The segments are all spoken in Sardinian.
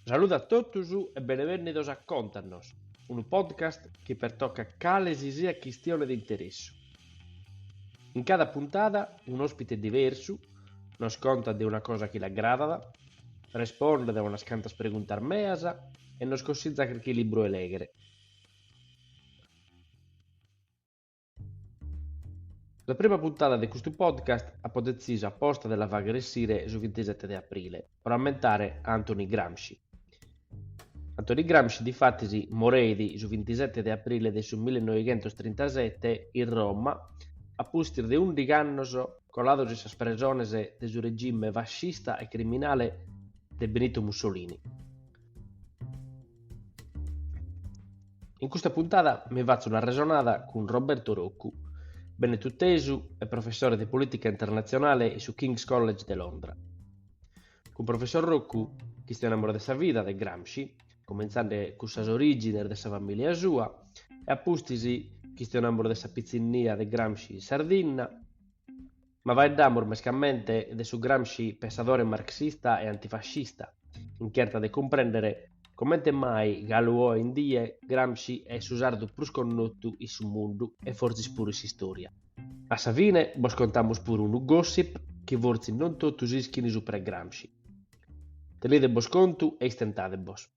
Saludu a totus e benevènnidos a Contanos, unu podcast chi pertocat cale si siat chistione de interessu. In cada puntada un'òspite diversu nos contat de una cosa chi l'agradat, respondet a unas cantas preguntas meas e nos consitzat carchi libru 'e lèghere. Sa prima puntada de custu podcast apo detzisu aposta de la fagher essire su bintisete de aprile, pro ammentare a Antoni Gramsci. Antoni Gramsci difatis moreit su bintisete de aprile de su millenoighentostrintasete in Roma a pustis de ùndighi annos colados in sas presones de su regime fascista e criminale de Benito Mussolini. In custa puntada mi fatzu una resonada cun Roberto Roccu, benetutesu e professore de polìtica internatzionale in su King's College de Londra. Cun professor Roccu chistionamus de sa vida de Gramsci, comintzande cun sas orìgines de sa famìlia sua, e a pustis chistionamus de sa pitzinnia de Gramsci in Sardinna, Ma faeddamus mescamente de su Gramsci pensadore marxista e antifascista, in cherta de cumprèndere comente mai galu oe in die Gramsci est su sardu prus connotu in su mundu e fortzis puru in s'istòria. A sa fine bos contamus puru unu gossip chi fortzis non totus ischint supra 'e Gramsci. Tenidebos contu e istentadebos.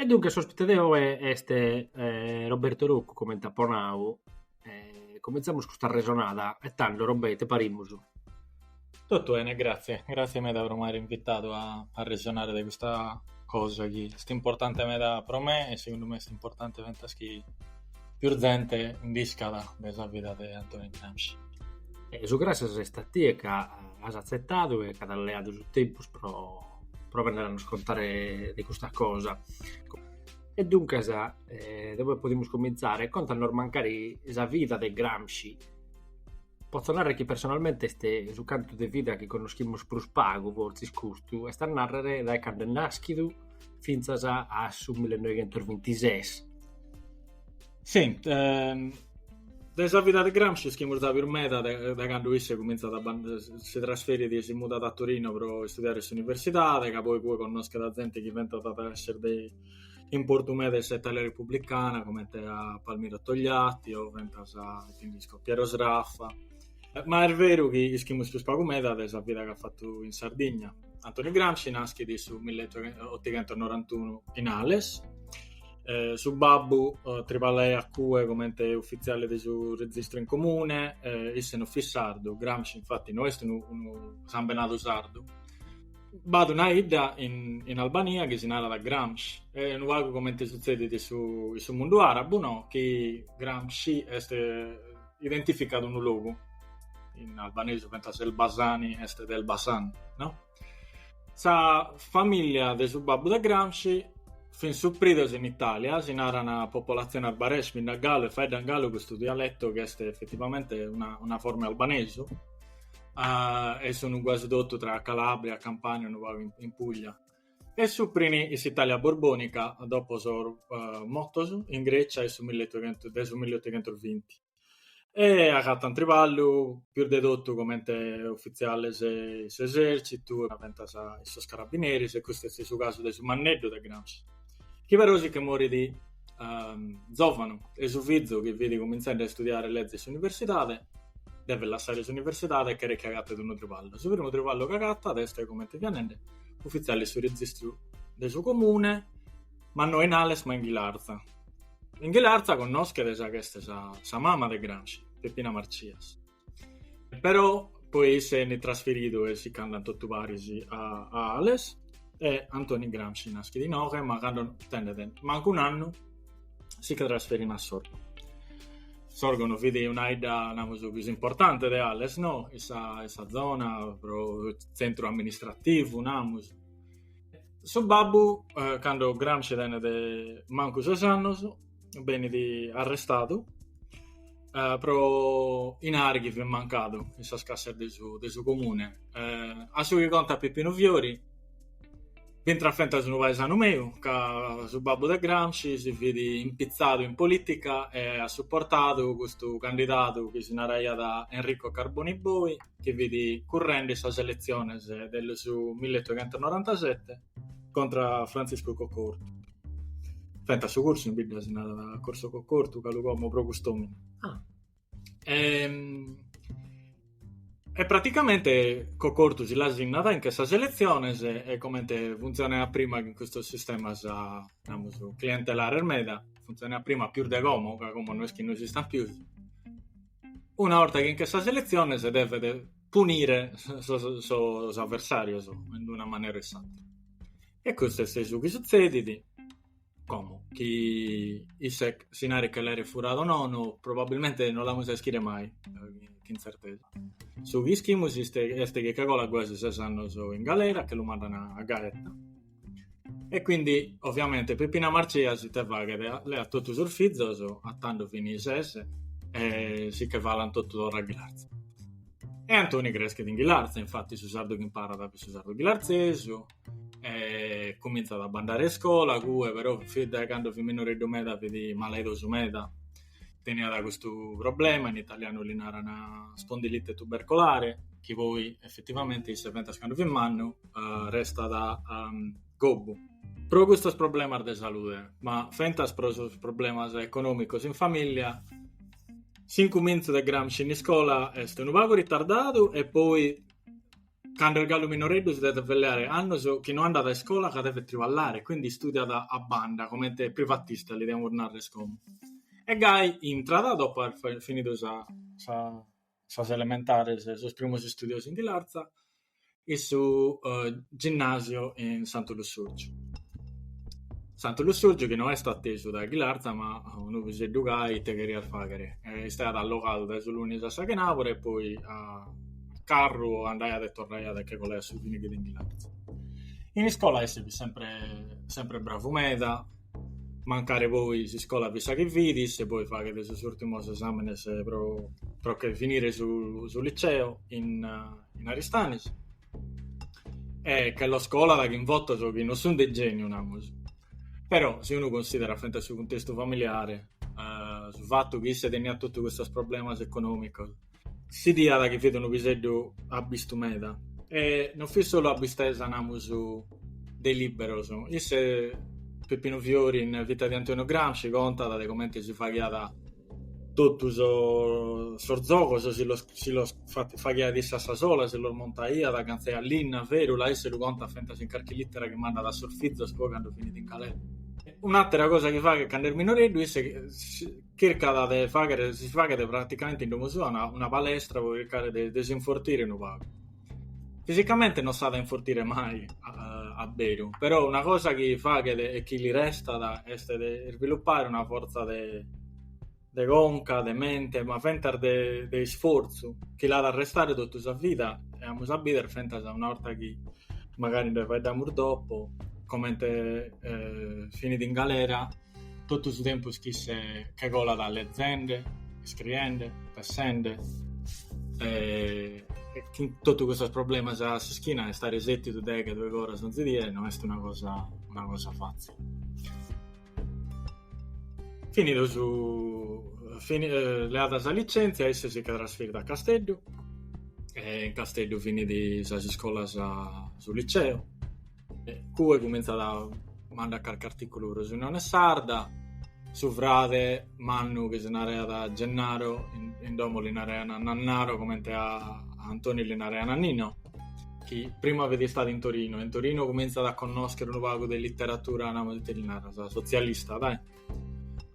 E duncas s'òspite de oe est Roberto Roccu, comente apo nau, e comintzamus custa resonada e tando Robè ite parimus? Totu 'ene, gratzie, gratzie meda pro m'aere invitadu a resonare de custa cosa chi est importante meda pro me e segundu me est importante fentas chi pius zente nd'iscat de sa vida de Antoni Gramsci. E su gràssias est a tie ca as atzetadu e ca t'as leadu su tempus pro pro bennere a nos contare de custa cosa. E duncas, e deo poi podimus comintzare, contanos mancari sa vida de Gramsci. Potzo narrer chi personalmente est su cantu de vida chi connoschimus prus pagu, fortzis custu, est a narrer dae cando est nàschidu fintzas a su millenoighentosbintises Sì, ehm, de sa vida de Gramsci ischimus de pius meda de, de cando isse cominzat a si trasferit e si mudat a Torino pro istudiare in s'universidade, ca poi cue connoschet a zente chi diventat a esser de importu meda in sa Italia republicana, comente a Palmiro Togliatti o fentas a Piero Sraffa. Eh, ma est veru chi ischimus pius pagu meda de sa vida ch'at fattu in Sardigna. Antoni Gramsci naschit in su 1891 in Ales, eh, su babbu eh, triballaiat a cue comente uffiziale de su registro in comune, eh, isse non fit sardu, Gramsci infatti non est unu, unu sambenadu sardu. B'at una idda in, in Albania chi si narat Gramsh, e unu pagu comente suzzedit in su, in su mundu arabu, no? chi Gramsci est eh, identificat unu logu, in albanesu fentas Elbasani est de Elbasan, no? Sa famìllia de su babbu de Gramsci fin supridos in Itàlia, si naran popolatziones arbëresh, bi nd'at galu e faeddan galu custu dialetu chi est efetivamente una una forma 'e albanesu e sun guasi totu tra Calàbria, Campània, unu pagu in in Puglia e suprin in s'Itàlia borbònica dopo sos motos in Grècia 'e su de su milleotoghentos vinti e agatant triballu prus de totu comente ufitziales de s'esèrtzitu e fentas in sos carabineris, e custu est su casu de su manneddu de Gramsci, chi però si nche morit zòvanu e su fizu, chi fit cumintzende a istudiare leze in s'universidade, devet lassare s'universidade e cheret chi agatet unu triballu. Su primu triballu chi agatat est, comente fia nende, ufitziale de su registru de su comune, ma no in Ales ma in Ghilarza In Ghilarza connoschet sa ch'est sa sa mama de Gramsci, Peppina Marcias. Però poi isse benit trasferidu e si ch'andan totu paris a a Ales e Antoni Gramsci naschet inoghe ma cando tenet mancu un'annu si che trasferin a Sorgono. Sorgono fit una idda namus pius importante de Ales no? In sa in sa zona pro tzentru amministrativu namus su babbu, eh, cando Gramsci tenet mancu ses annos, benit arrestadu eh, pro inari chi fit mancadu in sas cassas de su, de su comune. Eh, a su chi contat Pippinu Fiori, b'intrat fentas unu paesanu meu, ca su babbu de Gramsci si fit impitzadu in polìtica e at suportadu custu candidadu chi si naraiat Enrico Carboni Boi, chi fit currende sas eletziones de su milleotochentonorantasete contra Frantziscu Cocco Ortu. Fentas su cursu in bidda si narat Corso Cocco Ortu, galu como pro cust'omine. Ah. E, e praticamente Cocco Ortu si la sinnat, 'inchet sas eletziones e comente funtzioneat prima in custos sistemas namus clientelares meda, funtzioneat prima pius de como, ca como no est chi no esistant pius Una 'orta chi 'inchet sas eletziones devet punire sos aversàrios in una manera o in s'àtera. E custu est su chi sutzedit, como chi isse s'inari che l'aeret furadu o nono, probabilmente non l'amus a ischire mai cun tzertesa. Su chi ischimus est chi che colat guasi ses annos in galera, che lu mandan a Gaeta E quindi, ovviamente, Peppina Marcias ite faghet, leat totu sos fizos, a tando fini ses, e si che falan totu torra a Ghilarza. E Antoni creschet in Ghilarza, infatti su sardu chi imparat fit su sardu ghilarzesu, e comintzat a bandare a iscola, cue però, fit dae cando fit minoreddu meda fit malaidosu meda teniat custu problema, in italianu li naran spondilite tubercolare, chi poi effettivamente isse fentas candu fit mannu eh, restat um, gobbu. Pro custos problemas de salude, ma fentas pro sos problemas econòmicos in famìlia, s'incumentzu de Gramsci in iscola est unu pagu ritardadu e poi Cando est galu minoreddu si devet pelleare annos chi no andat a iscola ca devet triballare, quindi istudiat a banda, comente privatista li demus narrer como. E gai intrat, dopo aer finidu sa sa sas elementares e sos primos istudios in Ghilarza, in su ginnasio in Santu Lussurgiu. Santu Lussurgiu chi no est a tesu dae Ghilarza ma unu piseddu gai ite cherias faghere e istaiat allogadu dae su lunis a sa chenabura e poi a carru andaiat e torraiat e che colaiat su finichida in Ghilarza. In iscola isse fit sempre sempre bravu meda, mancari poi s'iscola fit sa chi fit, isse poi faghet sos urtimos esaminos pro pro che finire su su liceo in in Aristanis e che los colat chin votos chi non sun de geniu namus, però si unu considerat fentas su cuntestu familiare su fattu chi isse teniat totu custos problemas economicos si 'idiat chi fit unu piseddu abbistu meda e non fit solu abbistesa namus de liberos, isse Peppinu Fiori in Vita di Antonio Gramsci contat de comente si faghiat totu sos zogos, si los faghiat isse a sa sola, si los montaiat, agantzaiat linna, ferula, isse lu contat fentas in carchi litera chi mandat a sos fizos poi cando finit in galera. Un'atera cosa chi faghet cando est minoreddu isse chircat de fàghere, si faghet praticamente in domo sua, una, una palestra pro chircare de, de s'infortire unu pagu. Fisicamente non s'at a infortire mai a, a beru, però una cosa chi faghet e chi li restat est de isviluppare una fortza de, de conca, de mente, ma fentas de, de isfortzu, chi l'at a restare totu sa vida e amus a bìdere fentas una 'orta chi magari nde faeddamus dopo comente eh, finit in galera Totu su tempus chi isse che colat lezende, iscriende, pessende e cun totu custos problemas a s'ischina istare sètidu deghe doighi oras onzi die no est una cosa una cosa fàtzile. Finidu su leada sa litzèntzia isse si che trasferit a Casteddu e in Casteddu finit sas iscolas su liceo Cue cumintzat a mandare carchi artìculu pro s'Unione Sarda, su frade mannu chi si naraiat Gennaro, in, in domo li naraiant Nannaro comente a, a Antoni li naraiant Nino, chi prima fit istadu in Torino, e in Torino cumintzat a connòschere unu pagu de literatura, namus ite li naras, sotzialista, dai.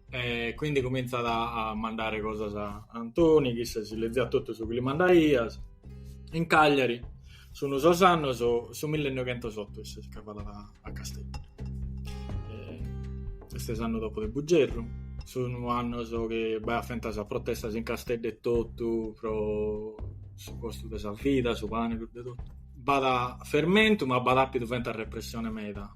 E quindi cominzat a mandare cosas a Antoni, chi isse si leziat totu su chi li mandaias. In Cagliari sun sos annos su millenoighentosoto isse si nche falat a Casteddu. Est s'annu dopo de Bugerru, sun annos chi b'aiat fentas protestas in Casteddu e totu pro su costu de sa vida, su pane, cuddu e totu. B'at fermentu ma b'at àpidu fentas repressione meda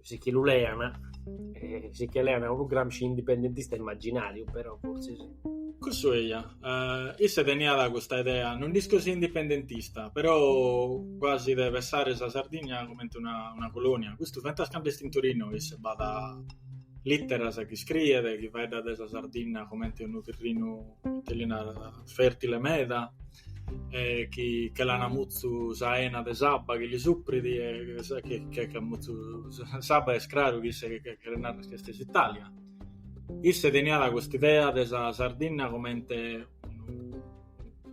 si nche lu lean, si nche lean unu Gramsci indipendentista immaginàriu, però fortzis... Cussu eia, eh, isse teniat custa idea, non nd'isco si indipendentista, però cuasi de pessare sa Sardinna comente una, una colònia. Custu fentas cando est in Torino isse b'at lìteras chi scriet, chi faeddat de sa Sardinna comente unu tirrinu, ite li narat, fèrtile meda, e chi che l'ana mutzu sa 'ena de s'abba chi li suprit e chi che mutzu s'abba est craru chi isse cheret nàrrer chi est s'Italia. Isse teniat cust'idea de sa Sardinna comente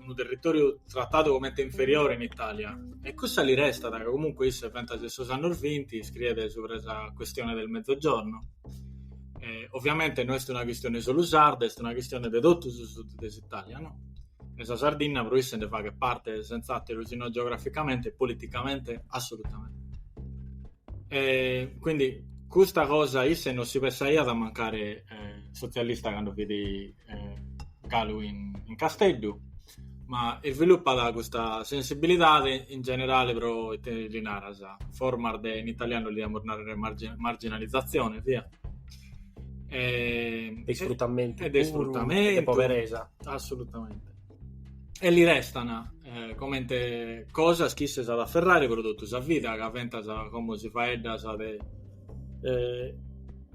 unu territòriu tratadu comente inferiore in Italia e cussa li restat ca comunque isse fentas de sos annos vinti iscriet subra sa questione del Mezzogiorno e ovviamente no est una chistione solu sarda est una chistione de totu su sud de s'Italia no E sa Sardinna pro isse nde faghet parte sentz'àteru si no geograficamente politicamente assolutamente. E quindi custa cosa isse non si pessaiat mancari sotzialista cando fit galu in Casteddu ma isvilupat custa sensibilidade in generale pro ite li naras, formas de in italianu li diamus nàrrere marginalizzazione, via. e, de isfrutamentu e de isfrutamentu de poveresa assolutamente e li restan eh, comente cosas chi isse at a afferrare pro totu sa vida ca fentas como si faeddas de eh,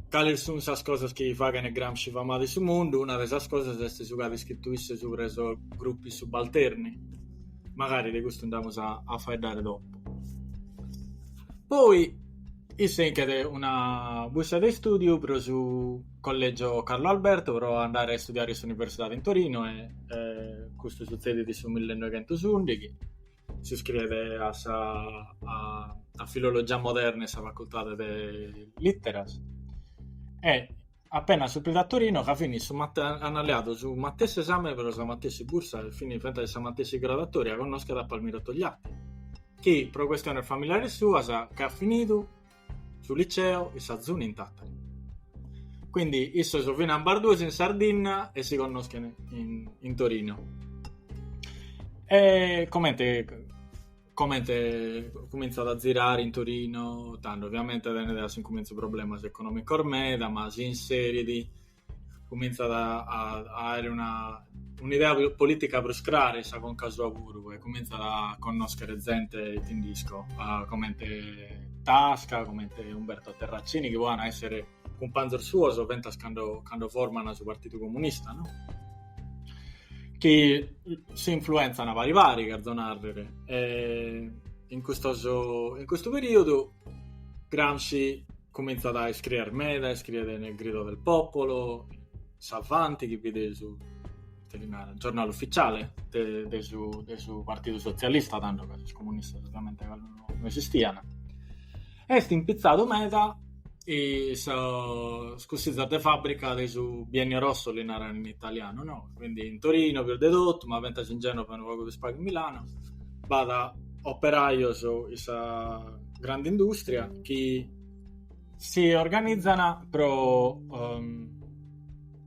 cales sun sas cosas chi faghen Gramsci famadu in su mundu una de sas cosas est su chi at iscritu isse subra sos gruppi subalterni magari de custu nd'amus a, a faeddare dopo poi Isse 'inchet una bussa de istùdiu pro su Collègio Carlo Alberto pro andare a istudiare in s'Universidade in Torino e custu sutzedit in su millenoighentusùndighi. S'iscriet a sa a Filologia Moderna in sa Facultade de Lìteras e Apenas supridu a Torino ca fin issos an leadu su matessi esame pro sa matessi bursa e fin fentas in sa matessi graduatoria connoschet a Palmiro Togliatti chi pro questiones familiares suas ch'at finidu su liceo in s'Azuni in Tàtari. Quindi issos fin ambarduos in Sardinna e si connoschen in Torino. E comente comente cumintzat a zirare in Torino, tando, ovviamente tenet a s'incumintzu problemas economicos meda, ma si inserit cumintzat a, a, a aere una, un'idea politica prus crara in sa conca sua puru e cumintzat a connoschere zente ite nd'isco, comente Tasca, comente Umberto Terracini, chi poi an a essere cumpanzos suos fentas cando cando forman su Partidu Comunista, no? chi si influenzan pari pari, cherzo nàrrere, e in custos in custu perìodu Gramsci cumintzat a iscriere meda, iscriet nel Grido del Popolo, s'Avanti! chi fit su cherì narrer, giornale ufficiale de, de, su, de su Partidu Sotzialista, tando ca sos comunistas ovviamente non, non esistian, est impitzadu meda in sos cussizos de fàbrica de su Biennio Rosso li naran in italianu, no? Quindi in Torino pius de totu, ma fentas in Genova e unu pagu pius pagu in Milano, b'at operajos in sa grande industria chi si organizan pro um,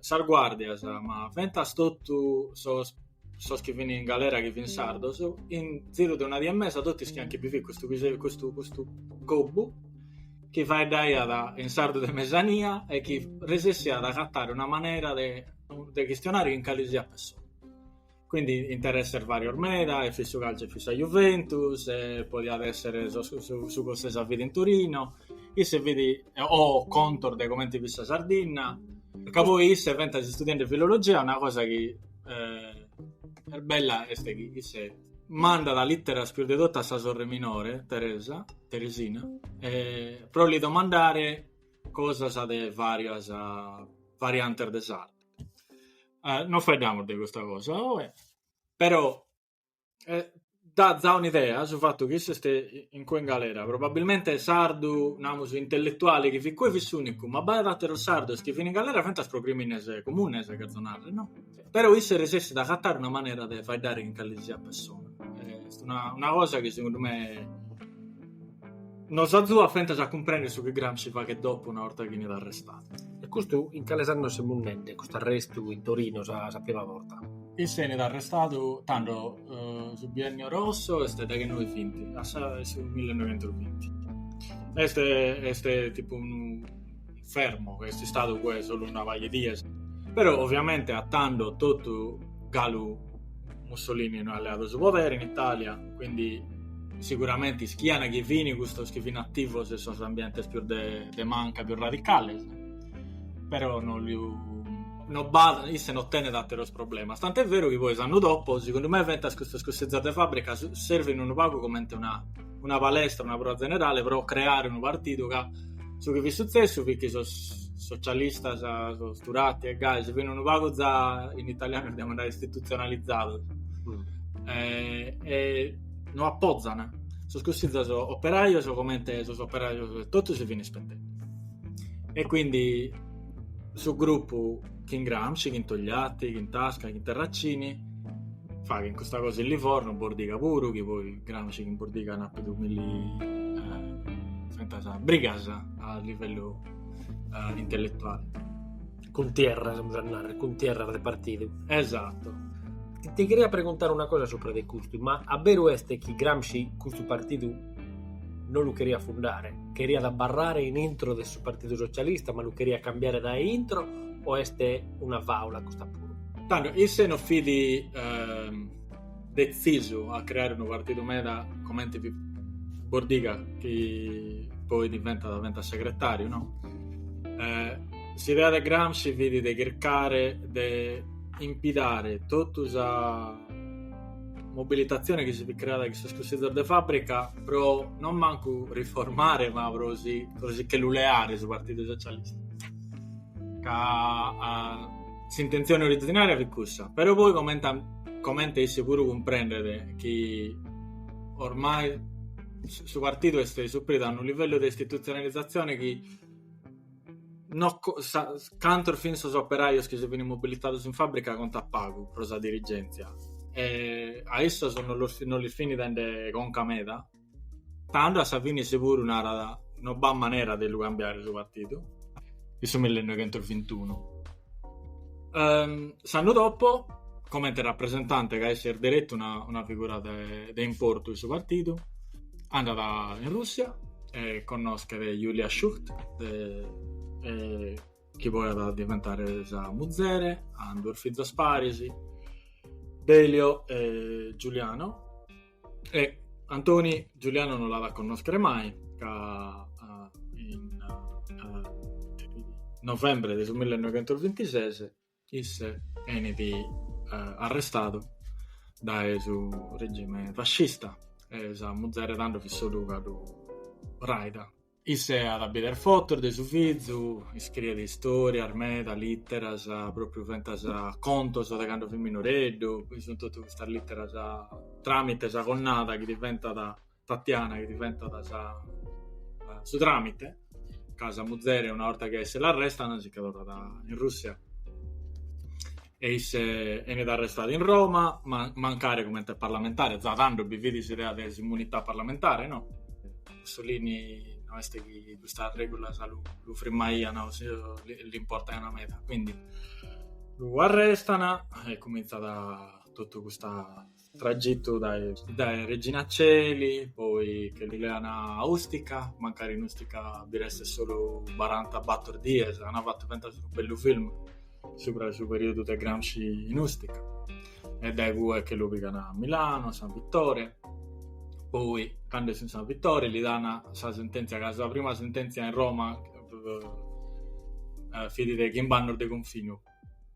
sas guàrdias, ma fentas totu sos sos chi fin in galera chi fin sardos, in ziru de una die e mesa totu ischiant chi bi fit custu piseddhu, custu, custu gobbu chi faeddaiat in sardu de mesania e chi resessiat a agatare una manera de chistionare chin calisiat pessone. Quindi interesses varios meda, e fit su calcio e fit sa Juventus, e podiat essere su, su, su cosse, sa vida in Torino, isse fit, o contos de comente fit sa Sardinna, ca poi isse fentas istudiende filologia, una cosa chi eh, est bella est chi isse mandat litteras pius de totu a sa sorre minore, Teresa, Teresina, eh, pro li domandare cosas de varias variantes de sardu. eh, non faeddamus de custa cosa oe, però eh, dat za un'idea su fattu chi isse est incue in galera, probabilmente sardu, namus, intelletuale chi fit cue fit s'unicu, ma b'aiat ateros sardos chi fin in galera fintzas pro crimines comunes, cherzo narrer, no? Però isse resessit a agatare una manera de faeddare chin calesisiat pessona. Eh, est una, una cosa chi segundu me Nos azuat fentas a cumprènnere su chi Gramsci faghet dopu una 'orta chi enit arrestadu. E custu in cales annos semus nende, custu arrestu in Torino sa sa prima borta? Isse enit arrestadu tando su Biennio Rosso est deghenoe binti, a sa su millenoientos binti. Est est tipu unu fermo, ca est istadu ue solu una paja 'e dies, però ovviamente a tando totu galu Mussolini no at leadu su podere in Italia, quindi sicuramente ischiana chi fini custos chi fini attivos in sos ambientes pius de de manca, pius radicales, però no lu no b'at, isse no tenet atteros problemas, tant'è vero chi poi s'annu dopo segundu me fentas custos cussizos de fabbrica servinu unu pagu comente una una palestra, una proa zenerale pro creare unu partidu ca su chi fit sutzessu fit chi sos socialistas, sos Turati e gai si fin unu pagu za, in italianu podiamus nai, istitutzionalizados e, e no apozan sos cussizos operajos comente sos operajos e totu si fin ispetende. E quindi su gruppu chin Gramsci, chin Togliatti, chin Tasca, chin Terracini Faghent custa cosa in Livorno, Bordiga puru, chi poi Gramsci chin Bordiga an appidu milli fentas brigas a livellu eh, intellettuale. Cuntierras, amus a narrer, cuntierras de partidu. Esatto. Ti, ti cheria preguntare una cosa supra de custu, ma a beru est chi Gramsci custu partidu non lu cheriat fundare, cheriat abbarrare in intro de su Partidu Socialista, ma lu cheriat cambiare da intro o est una faula custa puru? Tando, isse no fit eh, detzisu a creare unu partidu meda comente fit Bordiga, chi poi diventat, diventat segretariu, no? Eh, s'idea de Gramsci fit de chircare de impitare totu sa mobilitatzione chi si fit creada in sos cussizos de fàbrica pro non mancu riformare ma pro si, pro si che lu leare su Partidu Socialista ca a S'intentzione orizinaria fit cussa, però poi comente comente isse puru cumprendet chi ormai su partidu est supridu a unu livellu de istitutzionalizatzione chi no cantos fin sos operajos chi si fin mobilitados in fabbrica contat pagu pro sa dirigentzia e a issos no los no lis fin dende conca meda Tando a sa fine isse puru narat no b'at manera de lu cambiare su partidu, in su millenoighentusvintunu. S'annu dopo, comente rapresentante ca isse est deretu una figura de importu in su partidu, andat in Russia e connoschet Julia Schucht chi poi at a diventare sa muzere, ant duos fizos paris, Delio e Giuliano. E Antoni Giuliano non l'at a connoschere mai, ca in novembre de su 1926 isse benit arrestadu dae su regime fascista e sa muzere tando fit solu galu raida. Isse at a bider fotos de su fizu, iscriet istorias meda, literas, propriu, fentas contos de cando fit minoreddu, chi sun totu custas literas tramite sa connada chi diventat Tatiana chi diventat sa su tramite ca sa muzere una 'orta chi a isse l'arrestan si ca torrat in Russia. e isse enit arrestadu in Roma, ma mancari comente parlamentari, za tando bi fit s'idea de s'immunità parlamentari, no? Mussolini no est chi custas regulas lu, lu frimmaian o l'importaian meda, quindi lu arrestan e comintzat totu custa Tragitu dae dae Regina Coeli, poi che lu lean a Ustica, mancari in Ustica bi restet solu baranta bator dies, ana fatu fentas unu bellu film subra su periudu de Gramsci in Ustica, e dae cue che lu pigan a Milano, a San Vittore, poi cando est in San Vittore li dan sa sententzia ca sa prima sententzia in Roma fit de chimb'annos de confinu,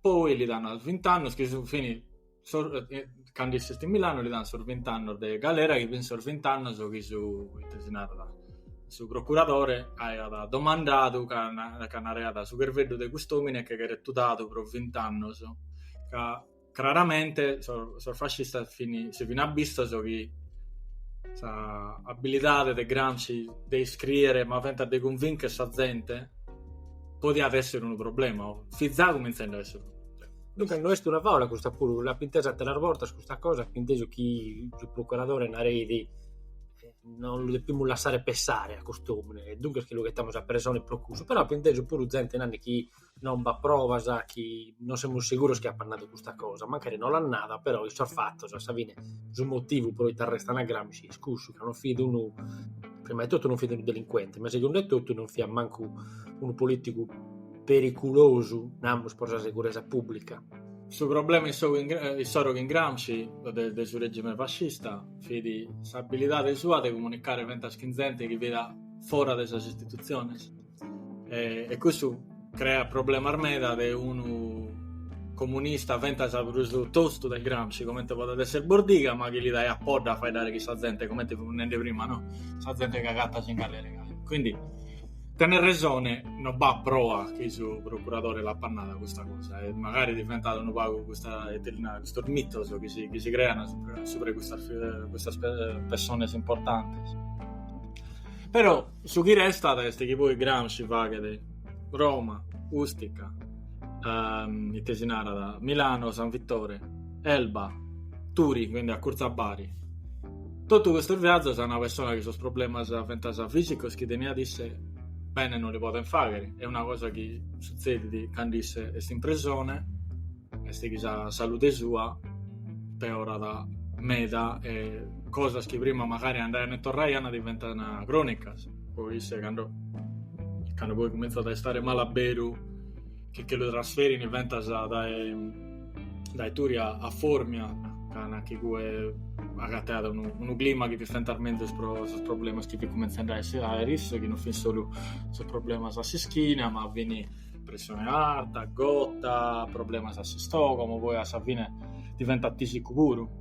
poi li dan vinti annos chi sun, fini Sos, eh, cando isse est in Milano li dan sos vint'annos de galera chi fin sos vint'annos chi su, ite si narat, su procuradore aiat domandadu ca ca naraiat su cherveddu de cust'omine che cheret tudadu pro vint'annos ca craramente sos sos fascistas fin si fin abbistos chi sa abbilidade de Gramsci de iscrìere ma fentas de cunvincher sa zente podiat esser unu problema o fit za cumintzende a esser unu problema Duncas no est una fàula custa puru, l'apo intesa àteras bortas custa cosa, apo intesu chi su procuradore nareid non lu depimus lassare pensare a cust'omine e duncas chi lu ghetamus a presone pro custu, però apo intesu puru zente nande chi non b'at provas, chi non semus seguros chi apat nadu custa cosa, mancari no l'at nada, però in sos fatos a sa fine su motivu pro ite arrestan a Gramsci est cussu, ca non fit unu, prima 'e totu non fit unu delincuente, ma segundu 'e totu non fiat mancu unu politicu periculosu, namus, pro sa seguresa pùblica. Su problema issoro cun Gramsci de su règime fascista fit s'abilidade sua de comunicare fentas cun zente chi fit fora de sas istitutziones e cussu creat problemas meda de unu comunista fentas prus tostu de Gramsci comente podet èssere Bordiga ma chi li daiat podda a faeddare cun sa zente comente fimus nende prima no sa zente chi agatat in galera quindi Tenes resone, no b'at proa chi su procuradore l'apat nada custa cosa e magari diventat unu pagu custa, ite si narat, custos mitos chi si chi si crean supra supra 'e custas custas pessones importantes. Però su chi restat est chi poi Gramsci faghet Roma, Ustica, ite si narat, Milano, San Vittore, Elba, Turi, quindi acurtza a Bari Totu custos viazzos a una persona chi sos problemas fentzas fisicos chi teniat isse bene non li podent fagher bene, e una cosa chi suzzedit cando isse est in presone est chi sa salude sua peorat meda e cosas chi prima magari andaian e torraian diventan cronicas, poi isse cando cando poi cuminzat a istare mala beru che che lu trasferin fentzas dae dae Turi a Formia ca in cue agatteat unu, unu clima chi fit fentzas menzus pro sos problemas chi fin cumentzende a esser serios, chi non fin solu sos problemas a s'ischina ma fin pressione arta, gota, problemas a s'istogomo, poi a sa fine diventat tisicu puru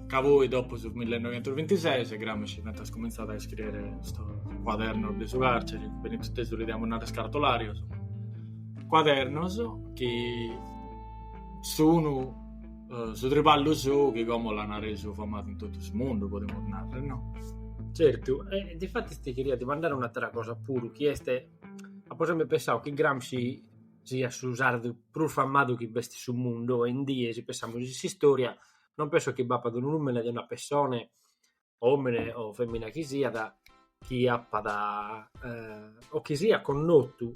Ca poi, dopo de su 1926, Gramsci at cumintzadu a iscriere sos cuadernos de su càrcere, benit totu los diamus nàrrere cartolàrios, cuadernos chi sun su triballu sou chi como l'ant resu famadu in totu su mundu, podemus nàrrere, no? Certu, e difatis ti cheriat dimandare un'àtera cosa puru, chi est, apo semper pensadu chi Gramsci siat su sardu prus famadu chi b'est in su mundu oe in die, si pensamus in s'istòria non penso chi b'apat unu nùmene de una pessone, òmine o fèmina chi siat, chi apat o chi siat connotu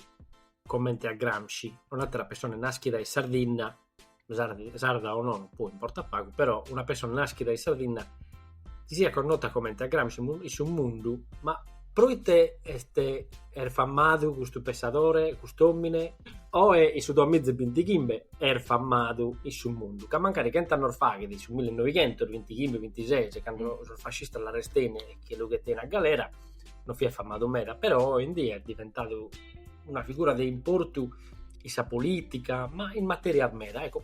comente a Gramsci, un'àtera pessone nàschida in Sardinna, sarda o non poi importat pagu, però una pessone nàschida in Sardinna chi siat connota comente a Gramsci in su mundu ma Proite est famadu custu pensadore, cust'òmine? Oe in su duas miza e bintighimbe est famadu in su mundu, ca mancari chent'annos faghet, in su mille e noighentos, bintighimbe, bintises, cando sos fascistas l'arrestein e che lu 'etein a galera, no fiat famadu meda, però oe in die est diventadu una figura de importu in sa polìtica, ma in matèrias meda. Ecco,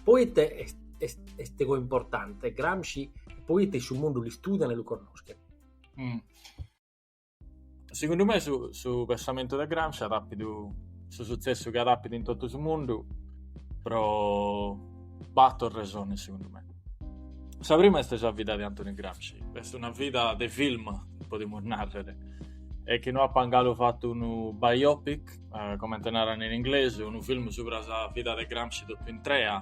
proite est est est importante Gramsci e proite in su mundu l'istudian e lu connoschen? Mm. Segundu me su, su pensamentu de Gramsci at apidu su sutzessu chi at apidu in totu su mundu pro bator resones segundu me. Sa prima est sa vida de Antoni Gramsci, est una vida de film, podimus narrer, e chi no apan galu fatu unu biopic, eh, comente naran in inglesu, unu film subra sa vida de Gramsci totu intrea,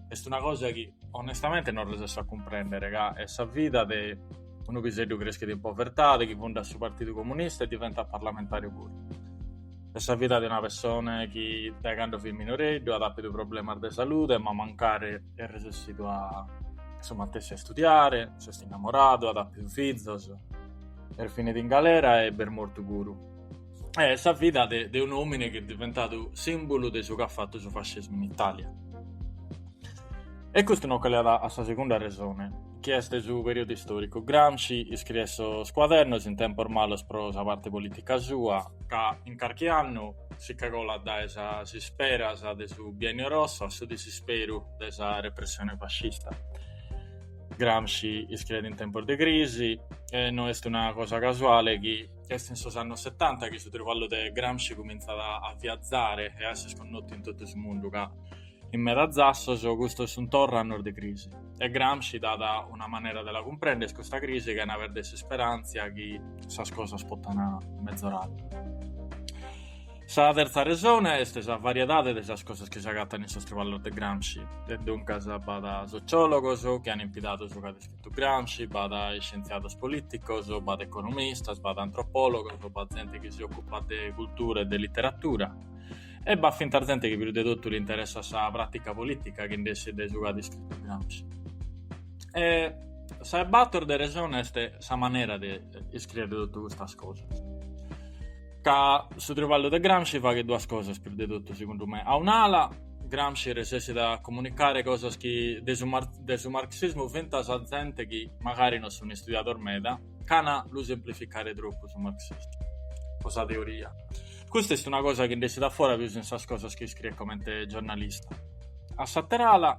est una cosa chi onestamente non resessu a cumprender, ca est sa vida de unu piseddu creschidu in povertade, chi fundat su Partidu Comunista e diventat parlamentàriu puru. Est sa vida de una pessone chi dae cando fit minoreddu at àpidu problemas de salude ma mancari est resessidu su matessi a istudiare, s'est innamoradu, at àpidu fizos, est finidu in galera e b'est mortu puru. Est sa vida de de un'òmine chi est diventadu sìmbulu de su chi at fatu su fascismu in Itàlia. E custu nos colleat a sa segunda resone, chi est su perìodu istòricu. Gramsci iscriet sos cuadernos in tempos malos pro sa parte polìtica sua, ca in carchi annu si che colat dae sas isperas de su Biennio Rosso a su disisperu de sa repressione fascista. Gramsci iscriet in tempos de crisi e no est una cosa casuale chi est in sos annos setanta chi su trivallu de Gramsci cumintzat a viazare e a esser connotu in totu su mundu, ca In meda zassos custos sunt torra annos de crisi e Gramsci dat una manera de la cumprender custa crisi chena perder s'isperantzia chi sas cosas potan mezorare. Sa terza resone est sa variedade de sas cosas chi s'agatan in sos triballos de Gramsci e duncas b'at sociologos chi an impidadu su chi at iscritu Gramsci, b'at iscientziados politicos, b'at economistas, b'at antropologos, b'at zente chi si occupat de cultura e de litteratura. E b'at fintzas zente chi prus de totu l'interessat sa pràtica polìtica chi nd'essit de su chi at iscritu Gramsci. E sa 'e bator de resone est sa manera de iscrìere totu custas cosas. Ca su triballu de Gramsci faghet duas cosas prus de totu segundu me. A un'ala Gramsci resessit a comunicare cosas chi de su de su marxismu fintzas a zente chi magari non sun istudiados meda chena lu semplificare tropu su marxismu o sa teoria. Custa est una cosa chi nd'essit a fora pius in sas cosas chi iscriet comente giornalista. A s'ater'ala,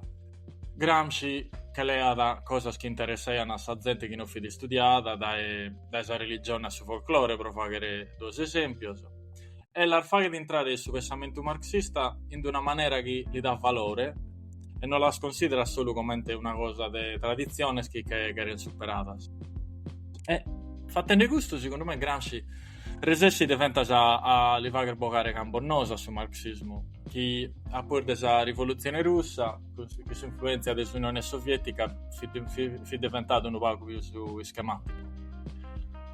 Gramsci che leat cosas chi interessaian a sa zente chi no fit istudiada, dae dae sa religione a su folclore pro faghere duos esempios, e las faghet intrare in su pensamentu marxista in una manera chi li dat valore e no las considerat solu comente una cosa de traditziones chi che cheren superadas. E, fatende custu, segundu me, Gramsci resessit fentas a, a li fagher bogare cambos noos a su marxismu, chi a pus de sa rivolutzione russa cun s'influèntzia de s'Unione Soviètica fit diventadu unu pagu pius ischemàticu.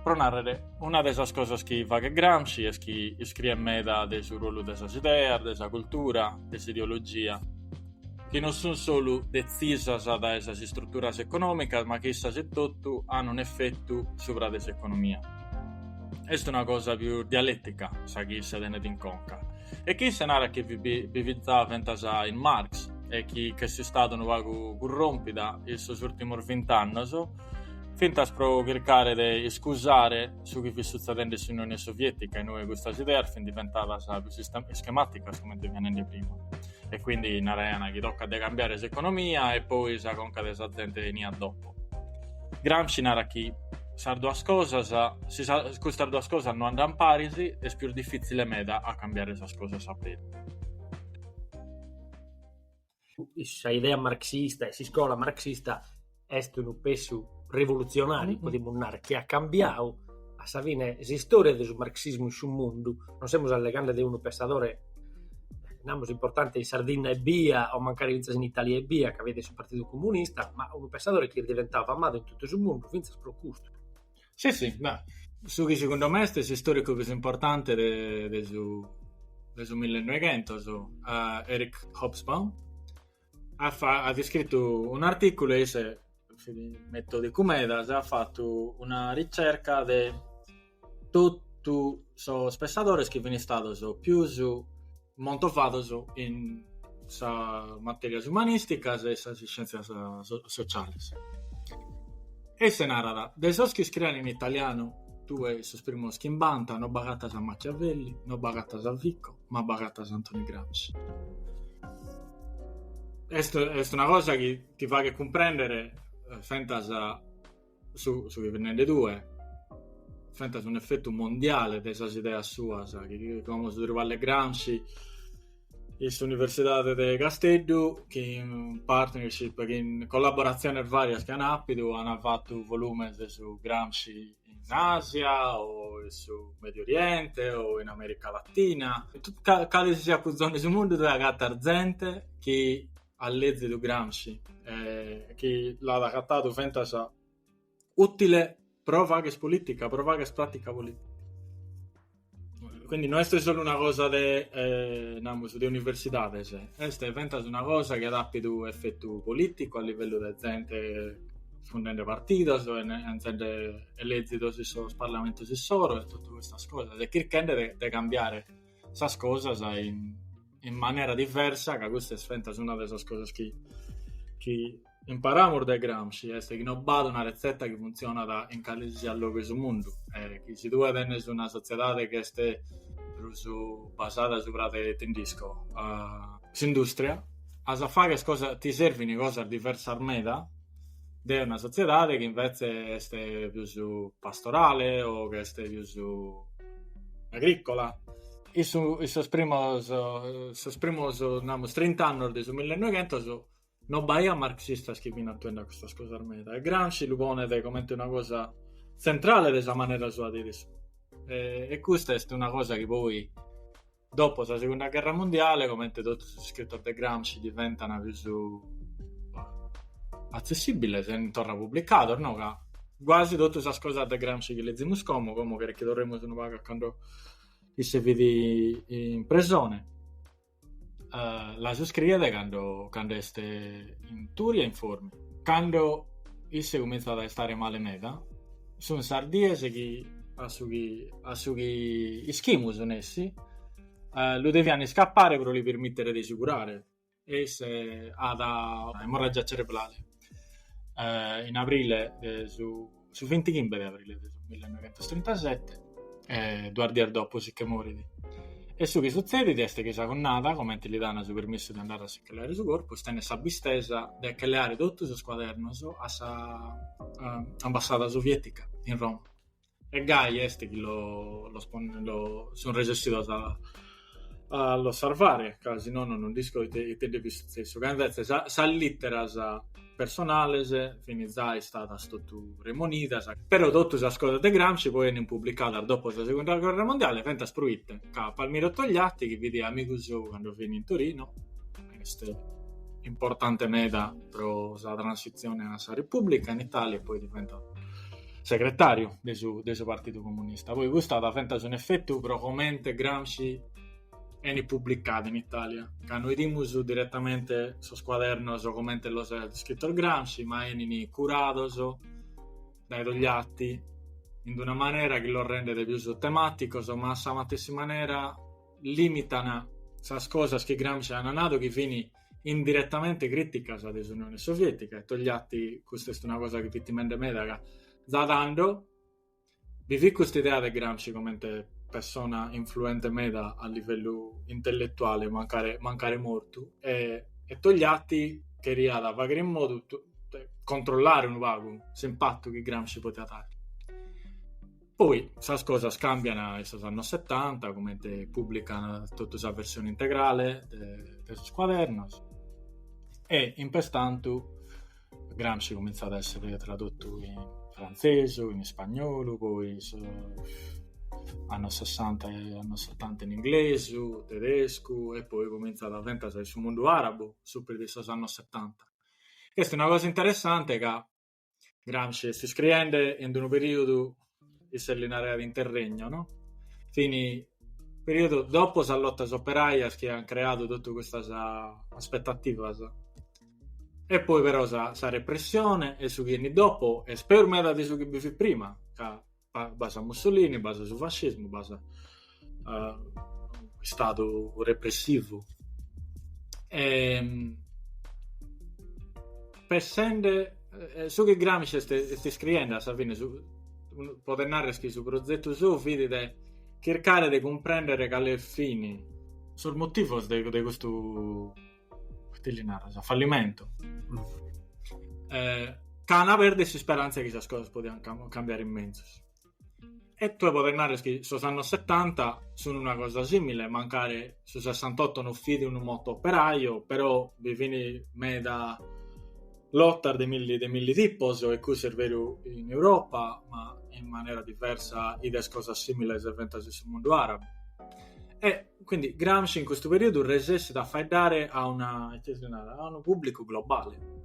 Pro nàrrere, una de sas cosas chi faghet Gramsci est chi iscriet meda de su ruolu de sas ideas, de sa cultura, de s'ideologia, chi non sunt solu detzisas dae sas istruturas econòmicas ma chi issas etotu ant un'efetu subra de s'economia. Est una cosa pius dialètica sa chi isse tenet in conca, E chi isse narat chi bi fit za fentas in Marx e chi ch'est istada unu pagu curròmpida in sos ùrtimos vint'annos, fintzas pro chircare de iscusare su chi fit sutzedende in s'Unione Soviètica, inue custas ideas fin diventadas pius ischemàticas, comente fia nende prima, e quindi naraiant chi tocat de cambiare s'economia e poi sa conca de sa zente 'eniat dopo. Gramsci narat chi sas duas cosas, si custas duas cosas no andant paris, est pius difìtzile meda a cambiare sas cosas a beru. Sa idea marxista e s'iscola marxista est unu passu rivolutzionàriu, podimus narrer, chi at cambiadu a sa fine s'istòria de su marxismu in su mundu, non semus alleghende de unu pensadore, namus, importante in Sardinna ebbia, o mancari fintzas in Italia ebbia, ca fit su partidu comunista, ma unu pensadore chi est diventadu famadu in totu su mundu fintzas pro custu. Si, si, beh, su chi segundu mei est s'istòricu prus importante de su de su millenoghentos, Eric Hobsbawm, at, fa, at iscritu un'artìculu e isse metòdicu meda at fatu una ricerca de totu sos pessadores chi fini stados pius montovados in sas matèrias umanìsticas e sas iscièntzias sociales e isse narat, de sos chi iscrient in italianu tue sos primos chi chimbanta no b'agatas a Machiavelli, no b'agatas a Vico, ma b'agatas a Antoni Gramsci. Est, est una cosa chi ti faghet cumprèndere eh, fentas su, su chi fit nende tue, fentas un'efetu mondiale de sas ideas suas, chi, como su traballu de Gramsci, in s'Universidade de Casteddu chi in partnership, chi in collaboratziones varias chi an àpidu, an fatu volumes de su Gramsci in Asia o in su Medio Oriente o in Amèrica Latina, cale si siat cuzone de su mundu tue agatas zente chi at lèzidu Gramsci e chi l'at agatadu fentas ùtile pro fagher polìtica, pro fagher pràtica polìtica. Quindi non est solu una cosa de, eh, namus, de universidades, est fentas una cosa chi at apidu efetu politicu a livellu de zente fundende partidos, benzende elezidos in sos parlamentos issoro e totu custas cosas, e chirchende de, de cambiare sas cosas in, in manera diversa, ca custa est fentas una de sas cosas chi, chi imparamus dae Gramsci est chi non b'at una retzeta chi funtzionat in calesisiat logu 'e su mundu, e chi si tue tenes una sotziedade chi est prus basada subra de nd'isco s'indùstria, as a fagher cosas, ti servint cosas diversas meda de una sotziedade chi invetze est prus pastorale o chi est prus agrìcola. In sos primos, sos primos namus trint'annos de su millenoghentos No b'aiat marxistas chi fint atuende a custas cosas meda e Gramsci lu ponet comente una cosa tzentrale de sa manera sua de arresonu. E, e custa est una cosa chi poi, dopo sa Segunda Gherra Mundiale, comente totu sos iscritos de Gramsci diventant prus atzessibiles e sunt torra publicados, no? Ca guasi totu sas cosas de Gramsci chi lezimus como, como cheret chi torremus unu pagu a cando isse fit in presone, Uh, las iscriet cando, cando est in Turi e in Formia. Cando isse cominzat a istare male meda, sun sas dies chi a su chi, a su chi ischimus nessi, uh, lu devian iscappare pro li permittere de si curare. E isse at una emorragia cerebrale. Uh, in aprile de su su 25 de aprile de su 1937, e duas dies dopo si che morit. E su chi sutzedit est chi sa connada, comente li dan su permissu de andare a si che leare su corpus, tenet sa abbistesa de che leare totu sos cuadernos a sa ambassada sovietica in Roma. E gai est chi los sun resessidos a a los sarvare, ca si nono non nd'isco ite, ite nde fit sutzessu, ca invetze sa, sas lìteras personales fin zai istadas totu remonidas, però totu sas cosas de Gramsci poi enin publicadas dopo sa Segunda Guerra Mondiale fentas pro ite, ca Palmiro Togliatti, chi fit amigu sou cando fin in Torino, est importante meda pro sa transizione a sa Repubblica in Italia e poi diventat segretàriu de su Partidu Comunista. Poi custu at fentas un'efetu pro comente Gramsci enit publicadu in Itàlia, ca no idimus diretamente sos cuadernos comente los aiat iscritos Gramsci, ma enit curados dae Togliatti in una manera chi los rendet pius temàticos, ma a sa matessi manera lìmitat sas cosas chi Gramsci at nadu chi fin indiretamente críticas de s'Unione Sovietica, e Togliatti, custa est una cosa chi fit timende meda ca da tando bi fit custa idea de Gramsci comente persona influente meda a livellu intelletuale, mancare, mancare mortu, e, e Togliatti cheriat faghere in modu, controllare unu pagu s'impattu chi Gramsci podiat dare. Poi sas cosas càmbian in sos annos setanta, comente pùblican totu sa versione integrale de, de sos cuadernos, e in pertantu Gramsci comintzat a èssere tradotu in frantzesu, in ispagnolu, poi annos sessanta e annos setanta in inglesu, tedescu, e poi comintzat fentas in su mundu àrabu, su prus de sos annos setanta, chi est una cosa interessante ca Gramsci est iscriende in unu perìodu, isse li naraiat interregno, no? Fit in perìodu dopo sas lotas operàias chi ant creadu totu custas aspetativas. E poi però sa sa repressione e su chi 'enit dopo est peus meda de su chi bi fit prima ca b'as a Mussolini, b'as su fascismu, b'as uh, istadu repressivu. E, ehm, pensende, eh, su chi Gramsci est, est scriende a sa fine, su, podes nàrrere chi su prozetu sou fit de chircare de cumprèndere cales fin sos motivos de, de custu Ite li naras, fallimentu. Eh, c'ant pèrdidu s'isperanza chi sas cosas podian cambiare in menzus. E tue podes nàrrere chi sos annos 70 sun una cosa simile, mancare su 68 no fit unu moto operaio, però bi fin meda lotas de milli de milli tipos e cussu est beru in Europa, ma in manera diversa 'ides cosas similes fentas in su mundu arabu. E Quindi Gramsci in custu periodu resessit a faeddare a una, ite si narat, a unu pubblicu globale.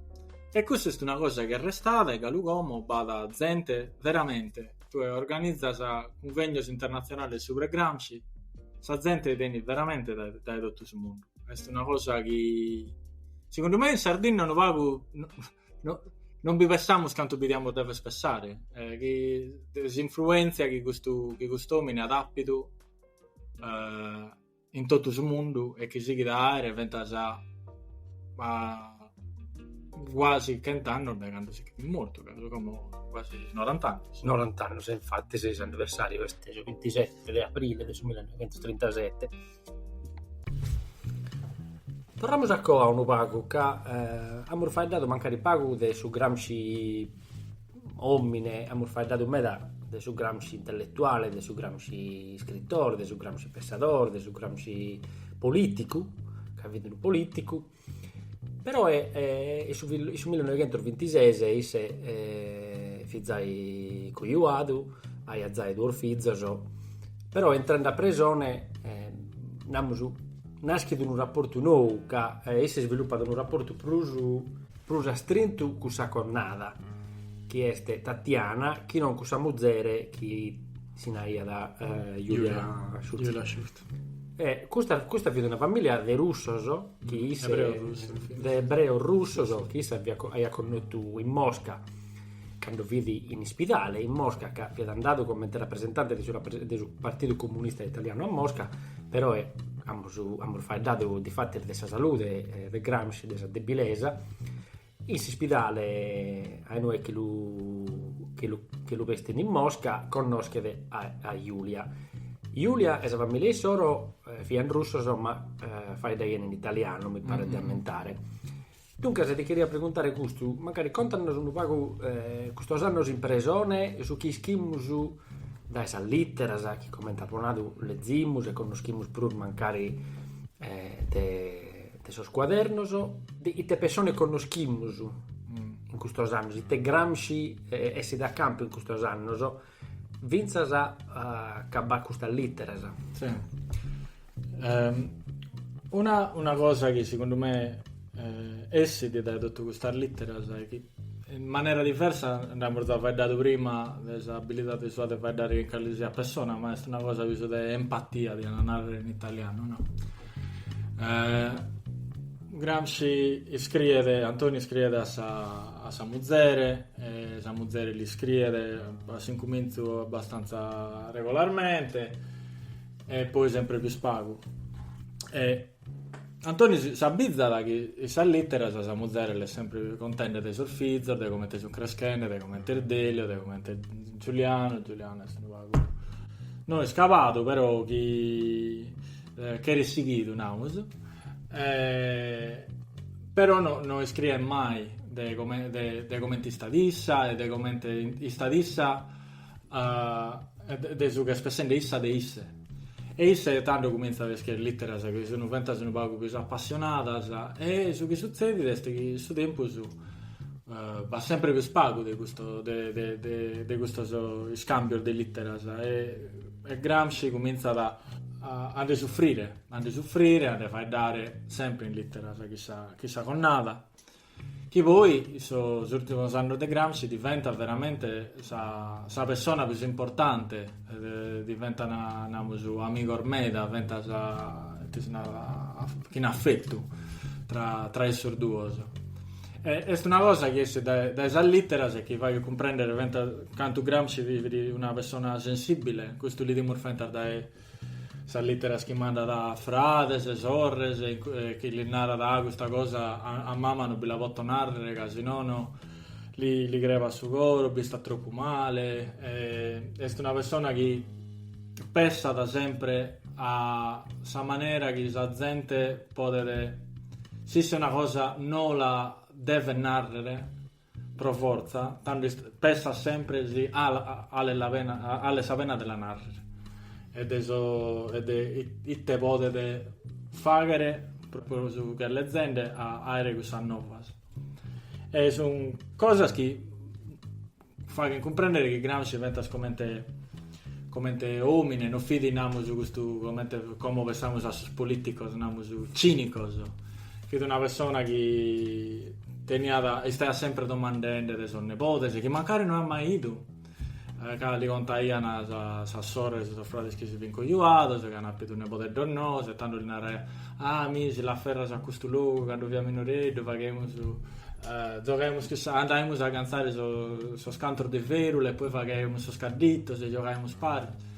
E custa est una cosa chi at restadu e galu como b'at zente veramente, tue organizas cunvegnos internazionales subra Gramsci, sa zente benit veramente dae dae totu su mundu. Est una cosa chi segundu me in Sardinna unu pagu no non bi pessamus cantu bi diamus dever pessare, chi de s'influentzia chi custu chi cust'omini at appidu uh, in totu su mundu e chi sighit a aere fentas a, a quasi chent'annos de cando si ch'est mortu, ca sunt como quasi 90 annos. 90 annos, infatti, s'anniversario est su 27 de aprile de su 1937. Torramus a coa unu pagu, ca eh, amus faeddadu mancari pagu de su Gramsci Òmine, amus faeddadu meda de su Gramsci intelletuale, de su Gramsci iscritore, de su Gramsci pensadore, de su Gramsci polìticu, ca fit unu polìticu, però e in su in su millinoighentusvintises isse fit giai cojuadu, aiat giai duos fizos, però intrende a presone, namus, naschet unu raportu nou ca isse isvilupat unu raportu prus prus astrintu cun sa connada, chi est Tatiana, chi non cun sa muzere chi si naraiat Julia Schucht. E custa, custa fiat una famìlia de russos, chi issa, de ebreos russos, chi issa fiat, aiat connotu in Mosca. Cando fit in ispidale, in Mosca, ca fiat andadu comente rapresentante de su Partidu Comunista Italianu a Mosca, peroe amus amus faeddadu difatis de sa salude de Gramsci, de sa debilesa, in s'ispidale a inue chi lu chi lu chi lu bestint in Mosca, connoschet a a Julia. Julia e sa familia issoro fiant russos ma faeddaiant in italianu, mi paret de ammentare. Duncas ti cheria preguntare custu, mancari contanos unu pagu custos annos in presone e su chi ischimus dae sas lìteras chi comente apo nadu lezimus e connoschimus prus mancari de de sos cuadernos, ite pessone connoschimus in custos annos, ite Gramsci essit a campu in custos annos Fintzas ca b'at custas lìteras. Si. Una cosa chi segundu me essit dae totu custas lìteras est chi in manera diversa nd'amus già faeddadu prima de s'abilidade sua de faeddare chin calesisiat persona, ma est una cosa pius de empatia, diat narrer in italianu, no? Gramsci iscriet, Antoni iscriet a sa, a sa muzere, e sa muzere l'iscriet a s'incumintzu abbastantza regolarmente, e poi sempre pius pagu. E Antoni s'abbizzat chi in sas litteras sa muzere l'est sempre contende de sos fizos, de comente sun creschende, de comente est Delio, de comente est Giuliano, Giuliano est unu pagu, no iscabadu, però chi Eh, cheret sighidu, namus. Eh, però no, no iscriet mai de, come, de, de comente istat issa e de comente istat issa uh, de, de su chi est pessende issa de isse. E isse tando cuminzat a iscriere litteras chi sunu fentas unu pagu pius appassionadas e su chi suzzedit est chi su tempus uh, eh, b'at sempre pius pagu de, custo, de, de, de, de custos iscambios de litteras e E Gramsci cumintzat a nde sufrire, a nde sufrire, a nde faeddare sempre in literas chin sa chin sa connada, chi poi sos urtimos annos de Gramsci diventat veramente sa sa pessona pius importante, diventat namus amigos meda, fentas ite si narat chin affettu tra tra issos duos. Est una cosa chi essit dae sas lìteras e chi faghet cumprèndere fentas cantu Gramsci fit una persona sensìbile, custu l'idimus fentas dae sas lìteras chi mandat a frades e sorres, chi lis narat ah custa cosa a mama non bi la poto nàrrere ca si nono li crebat su coro, b'istat tropu male, est una persona chi pessat sempre a sa manera chi sa zente Podet si isse una cosa no la devet narrer pro fortza, tando pessat sempre si alet la alet sa pena de la narrer e de so e de ite podet fagher pro pro su chi est lezende a aere cussas novas e sun cosas chi Faghent cumprendere chi Gramsci fentas comente comente omine no fit namus su custu comente como pensamus a sos politicos namus cinicos fit una persona chi teniat istaiat sempre domandende de sos nebodes chi mancari no at mai idu chi li contaian sas sorres e sos frades chi si fin cojuados e chi an appidu nebodeddos noos e tando li naraiat ah mi si l'afferraias a custu logu cando fia minoreddu faghemus Gioghemus cun sa, andaimus a ganzare sos cantos de fèrula e poi faghemus sos cadditos e giogaimus paris.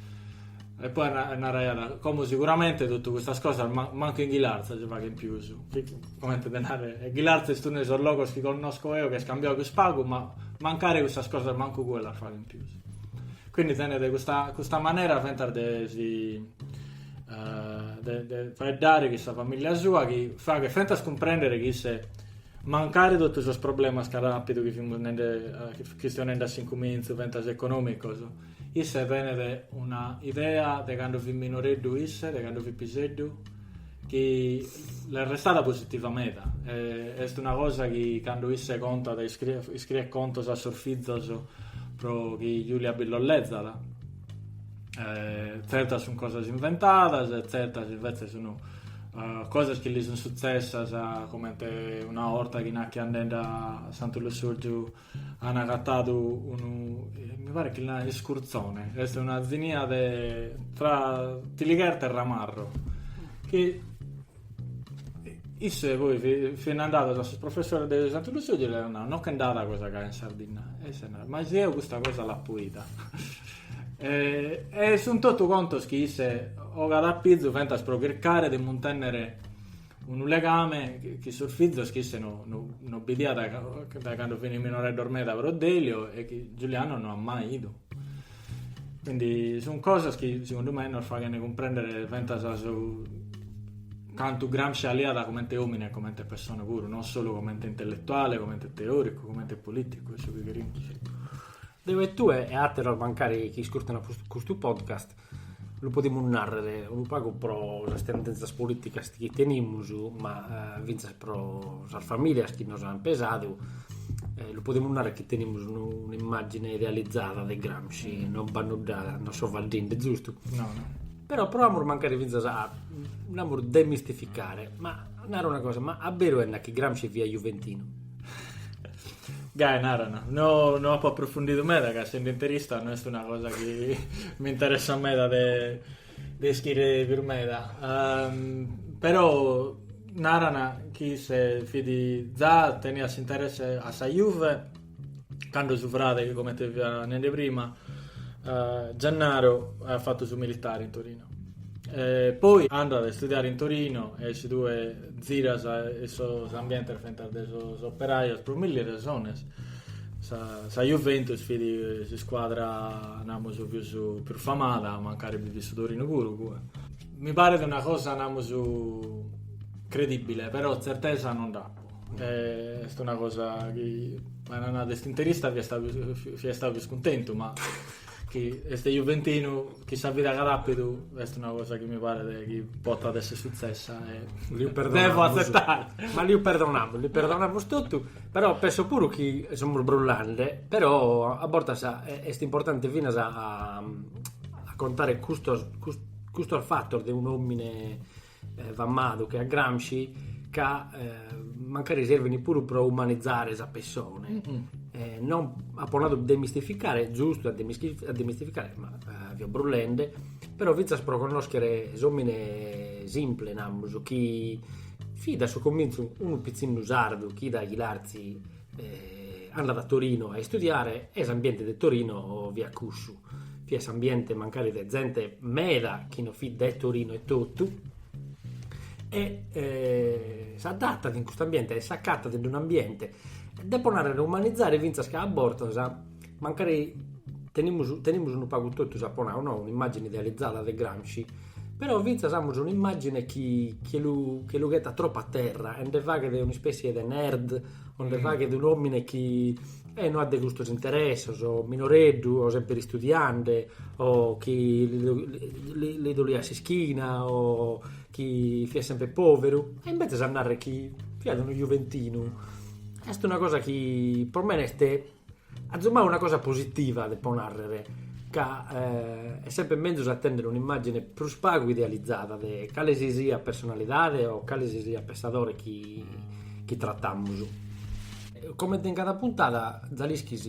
E poi naraiat, como sicuramente totu custas cosas mancu in Ghilarza si faghen pius, comente de narrer, Ghilarza est unu de sos logos chi connosco eo chi est cambiadu pius pagu, ma mancari custas cosas mancu cue las faghen pius. Quindi tenet custa custa manera fentas de si de faeddare cun sa familia sua chi faghet fentas cumprender chi isse Mancari totu sos problemas ca ràpidu chi fimus nende, chi istio nende a s'incumintzu fentas econòmicos, isse tenet una idea de cando fit minoreddu isse, de cando fit piseddu, chi l'est restada positiva meda. Est una cosa chi cando isse contat, iscriet contos a sos fizos pro chi Julia bi los lezat, eh, tzertas sunt cosas inventadas e tzertas invece sunt uh, cosas chi li sunt sutzessas uh, comente una orta chi nachi andende a Santu Lussurgiu han agatadu unu eh, mi pare chi a iscurzone est una zinia de tra tiligherta e ramarro che Isse e poi fin andados a sos professores de Santu Lussurgiu e l'aian nadu no nche nd'at de cosa gai in Sardinna e isse narat ma si eo custa cosa l'apo ida e, e sun totu contos chi isse ogat a pizu fentas pro chircare de muntennere unu legame chin sos fizos chi isse no, no, no bidiat dae cando fin minoreddos meda pro Delio e chi Giuliano no at mai idu Quindi sunt cosas chi segundu mei nos faghent cumprendere fentas su cantu Gramsci aliat comente omine e comente pessone puru, non solu comente intelletuale, comente teoricu, comente politicu e su chi cherimus. Deu e tue e ateros mancari chi iscurtena custu podcast lu podimus narrere unu pagu pro sas tendenzas politicas chi tenimus, ma fintzas pro sas famìlias chi nos ant pesadu, lu podimus narrer chi tenimus un'immàgine idealizada de Gramsci, non b'at nudda, non so faeddende zustu? No, no. Però proamus mancari fintzas a, namus, demistificare, ma naro una cosa, ma a beru est chi Gramsci fiat juventinu? Gai, narana, no no apo aprofundidu meda ca essende interista no est una cosa chi m'interessat meda de de ischire prus meda, però naran chi isse fit za teniat s'interesse a sa Juve cando su frade chi comente fia nende prima Gennaro at fatu su militare in Torino e poi andat a istudiare in Torino e si tue ziras in sos ambientes fintzas de sos operajos pro milli resones Sa Juventus fit s'iscuadra, namus, pius pius famada, mancari bi fit su Torinu puru, cue. Mi paret una cosa, namus, credibile, però tzertesa non dd'apu. Est una cosa chi, a nai nai ca est interista fia istau, fia istau pius cuntentu, ma chi est juventinu Chi sa vida ch'at àpidu est una cosa chi mi paret chi potat esser sutzessa ma liu perdonamus. Devo atzettare. Ma liu perdonamus, li perdonamus totu, però penso puru chi semus brullende, però a bortas est importante finas a a contare custos custos fattos de un'omine Famadu che a Gramsci ca mancari servini puru pro umanizzare sa pessone, non apo nadu demistificare, est giustu a demistificare, ma fio brullende, però fintzas pro connoschere s'omine simple, namus, chi fit a su comintzu unu pitzinnu sardu chi dae Ghilartzi andat a Torino a istudiare e s'ambiente de Torino fiat cussu, fiat s'ambiente mancari de zente meda chi no fit de Torino etotu e s'adatat in cust'ambiente e s'acatat in unu ambiente, depo narrer umanizare fintzas ca a bortas Mancari tenimus tenimus unu pagu totus, apo nau, no, un'immàgini idealizada de Gramsci, però fintzas amus un'immàgine chi che lu che lu ghetat tropu a terra e nde faghet un'ispèssie de nerd o nde faghet un'òmine chi e no at custos interessos, o minoreddu o semper istudiende o chi li li doliat s'ischina o chi fiat semper pòveru e imbetzes a narrer chi fiat unu juventinu est una cosa chi pro mene est Atzumai una cosa positiva depo nàrrere, ca est semper mezus a tènnere un'imàgine prus pagu idealizada de cale si siat personalidade o cale si siat pensadore chi tratamus. Comente in cada puntada, za l'ischis,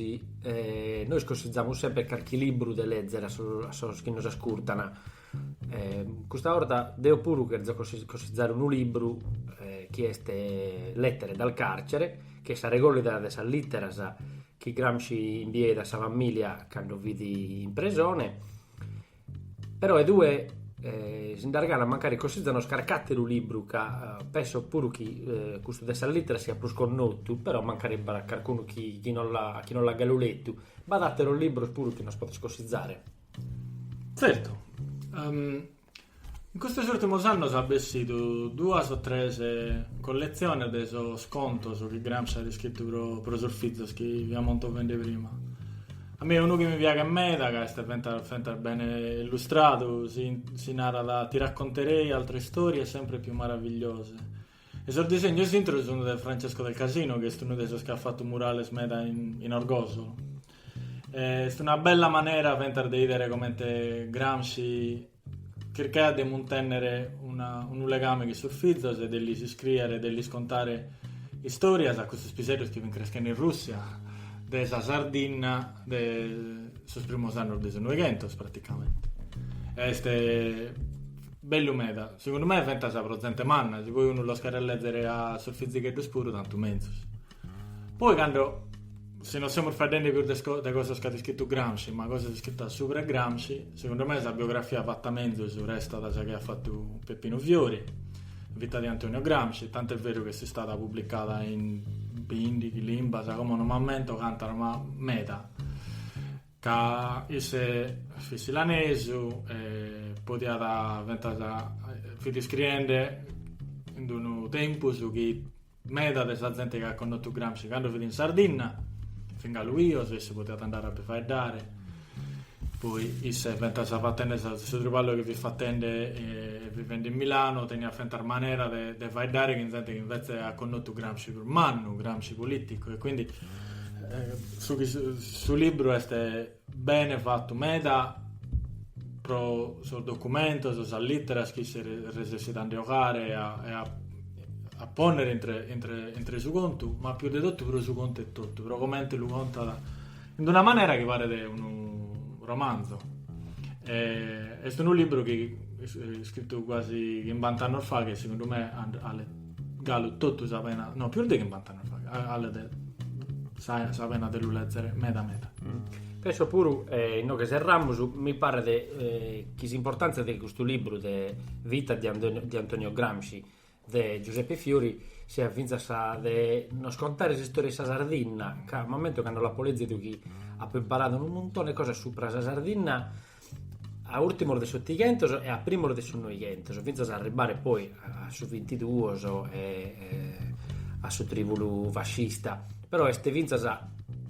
nois consizamus semper carchi libru de lèzere a sos chi nos ascurtan Custa 'orta deo puru cherzo cosizzare unu libru chi est Lettere dal carcere, chi est sa regòllida de sas lìteras chi Gramsci imbieit a sa famìlia cando fit in presone, però e tue si nd'as ganas mancari cosizzanos carchi àteru libru ca penso puru chi custu de sas lìteras siat prus connotu, però mancari b'at carcunu chi non l'at galu letu. B'at àteros libros puru chi nos podes cosizzare? Zertu. In custos ùrtimos annos at bessidu duas o tres colletziones de sos contos chi Gramsci at iscritu pro sos fizos chi fia montovende prima. A mie unu chi mi piaghet meda, ca est fentas bene illustradu, si narat Ti racconterei altre storie sempre più maravigliose, E sos disegnos intro sunu de Francesco del Casino, chi est unu de sos chi at fatu murales meda in Orgosolo. Est una bella manera fentas de 'idere comente Gramsci chircaiat de muntènnere una unu legame chin sos fizos e de lis iscrìere, de lis contare istòrias a custos piseddos chi fin creschende in Rùssia, de sa Sardinna de sos primos annos de su Noighentos praticamente. Est Bellu meda. Segundu me fentas pro zente manna, si poi unu los cheret lèzere a sos fizicheddos puru tantu menzus. Poi cando, si no semus faeddende pius de de cosas chi at iscritu Gramsci, ma cosas iscritas subra 'e Gramsci, segundu me sa biografia fata menzus restat sa chi at fatu Peppinu Fiori, Vita di Antonio Gramsci, tant'est beru chi est istada publicada in bindighi limbas, como no m'ammento cantas, ma meda. ca isse fit silanesu e podiat fentas fit iscriende in unu tempus chi meda de sa zente chi at connotu Gramsci cando fit in Sardinna fin galu 'ios, isse podiat andare a bi faeddare poi isse fentas fatende sa su triballu chi fit fatende e vivende in Milano teniat fentas manera de faeddare chin zente chi invece at connotu Gramsci prus mannu Gramsci politicu e quindi su chi su libru est bene fatu meda pro sos documentos, sas lìteras chi si resessit a nde 'ogare e a e a a pònnere intre intre intre su contu, ma pius de totu pro su contu etotu, pro comente lu contat in d'una manera chi paret unu romanzu. Est unu libru chi iscritu guasi chimbant'annos faghe e segundu me and- Galu totu sa pena, no, pius de chimbant'annos faghe, 'alet sa sa pena de lu lèzere meda meda. Penso puru, e inoghe serramus, mi paret chi s'importàntzia de custu libru de Vita di Antonio di Antonio Gramsci de Giuseppe Fiori siat fintzas sa de nos contare s'istòria 'e sa Sardinna ca m'ammento cando l'apo lèzidu chi apo imparadu unu muntone 'e cosas subra sa Sardinna a ùrtimos de s'otighentos e a primos de su noighentos, fintzas a arribare poi a su vintiduos e a su trìbulu fascista. Però est fintzas,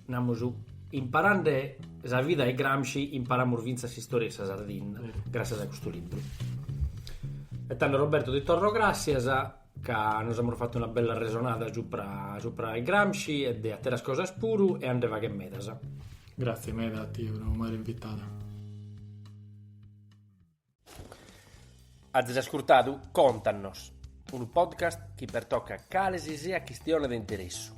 namus, imparende sa vida 'e Gramsci imparamus fintzas s'istòria 'e sa Sardinna, gràssias a custu libru. E tando Roberto ti torro gràssias. ca nos amus fatu una bella resonada supra supra 'e Gramsci e de atteras cosas puru e a nde fagher medas. Grazie medas a tie pro m'aer invitadu. Azis ascurtadu Contanos, unu podcast chi pertocat cale si siat chistione de interessu.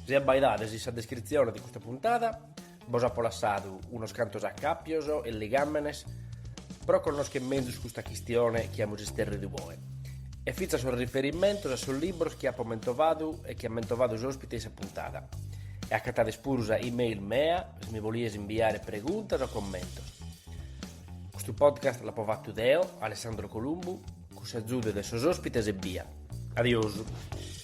Si abbaidades in sa descritzione de custa puntada. Bos apo lassadu unos cantos acàpios e ligàmenes pro connoschere mezus custa chistione chi amus isterridu oe e fintzas sos riferimentos a sos libros chi apo mentovadu e chi at mentovadu s'òspite in sa puntada. E acatades puru sa e-mail mea si mi bolides imbiare preguntas o commentos. Custu podcast l'apo fatu deo, Alessandro Columbu, cun s'agiudu de sos òspites ebbia. Adiosu.